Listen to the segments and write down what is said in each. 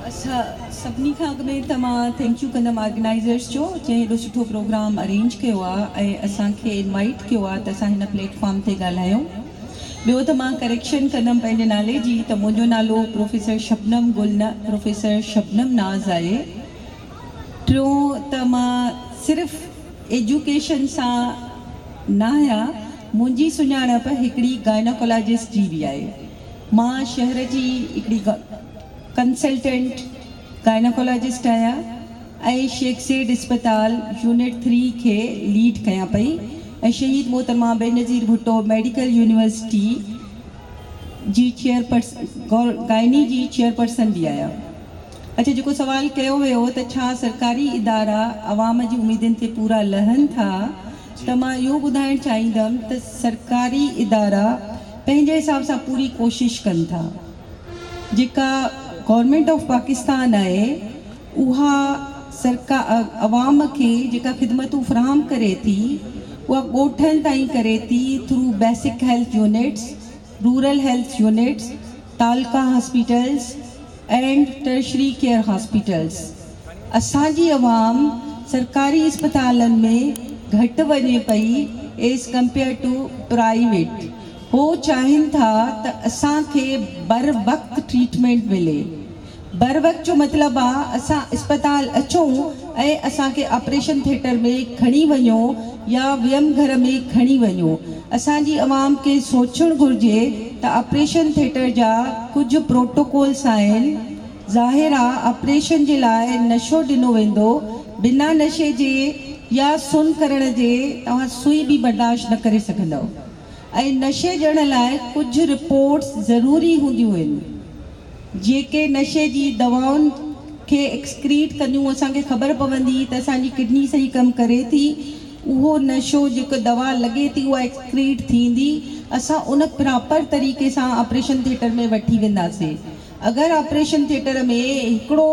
اسان سڀني کان اڳ ۾ ته مان ٿينڪ يو ڪندم آرگنائيزرس جو جنهن هيڏو سٺو پروگرام ارينج ڪيو آ ۽ اسان کي انوائيٽ ڪيو آ ته اسان هن پليٽ فارم تي ڳالهايون ٻيو ته مان ڪريڪشن ڪندم پنهنجي نالي جي ته منهنجو نالو پروفيسر شبنم گل نه پروفيسر شبنم ناز آهي ٽيون ته مان صرف ايجوڪيشن سان ناهيان منهنجي سڃاڻپ هڪڙي گائناڪولاجسٽ جي به آهي مان شهر جي هڪڙي ڪنسلٽنٽ گائناڪالاجسٽ آهيان ۽ شيخ زيڊ اسپتال يونٽ ٿري کي ليڊ ڪيان پئي ۽ شهيد محترمه بينظير ڀٽو ميڊيڪل يونيورسٽي جي گائني جي چيئرپرسن به آهيان. اڇا جيڪو سوال ڪيو ويو ته ڇا سرڪاري ادارا عوام جي اميدن تي پورا لهن ٿا ته مان اهو ٻڌائڻ چاهيندم ته سرڪاري ادارا پنهنجي حساب سان پوري ڪوشش ڪن ٿا جيڪا گورنمينٽ آف پاڪستان آهي اها سرڪا عوام کي جيڪا خدمتون فراهم ڪري ٿي اها ڳوٺن تائين ڪري ٿي through basic health units rural health units تعلقا hospitals and tertiary care hospitals اسان جي عوام سرڪاري اسپتالن ۾ گهٽ وڃي پئي ايز ڪمپيئر ٽو پرائيويٽ هو چاهين ٿا ته اسان کي بر وقت ٽريٽمينٽ ملي بر وقت جو مطلب آ اسان اسپتال اچون ۽ اسان کي آپريشن ٿيٽر ۾ کڻي وڃو يا ويم گهر ۾ کڻي وڃو اسان جي عوام کي سوچڻ گهرجي ته آپريشن ٿيٽر جا ڪجهه پروٽوڪولس آهن ظاهر آ آپريشن جي لاء نشو ڏنو ويندو بنا نشي جي يا سن ڪرڻ جي توهان سوئي به برداشت نه ڪري سگهندؤ ۽ نشي ڏيڻ لاء ڪجهه رپورٽس ضروري هونديون هين جيڪي نشي جي دوائن کي ايڪسڪريٽ ڪنديون اسان کي خبر پوندي ته اسان جي ڪڊني صحيح ڪم ڪري ٿي اهو نشو جيڪو دوا لڳي ٿي اها ايڪسڪريٽ ٿيندي اسان ان پراپر طريقي سان آپريشن ٿيٽر ۾ وٺي وينداسين اگر آپريشن ٿيٽر ۾ هڪڙو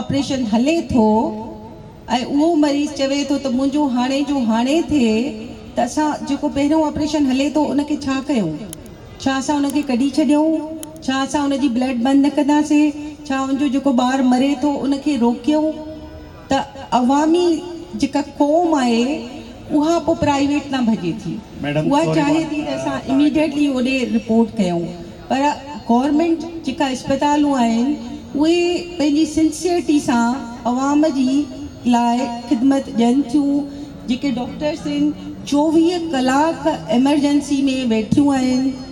آپريشن هلي ٿو ۽ اهو مريض چوي ٿو ته منهنجو هاڻي جو هاڻي ٿئي ته اسان جيڪو پهريون آپريشن هلي ٿو ان کي ڇا ڪيون؟ ڇا اسان ان کي ڪڍي ڇڏيون؟ ڇا اسان ان جي بلڊ بند نه ڪنداسين؟ ڇا ان جو جيڪو ٻار مري ٿو ان کي روڪيون؟ ته عوامي جيڪا قوم آهي اها پوء پرائيويٽ ڏانهن ڀڄي ٿي. اها چاهي ٿي ته اسان اميڊيٽلي اوڏي رپورٽ ڪيون. پر گورنمينٽ جيڪا اسپتالون آهن اهي پنهنجي سنسيئرٽي سان عوام جي لاء خدمت ڏين ٿيون جيڪي ڊاڪٽرس ان چوويهه ڪلاڪ ايمرجنسي ۾ ويٺيون آهن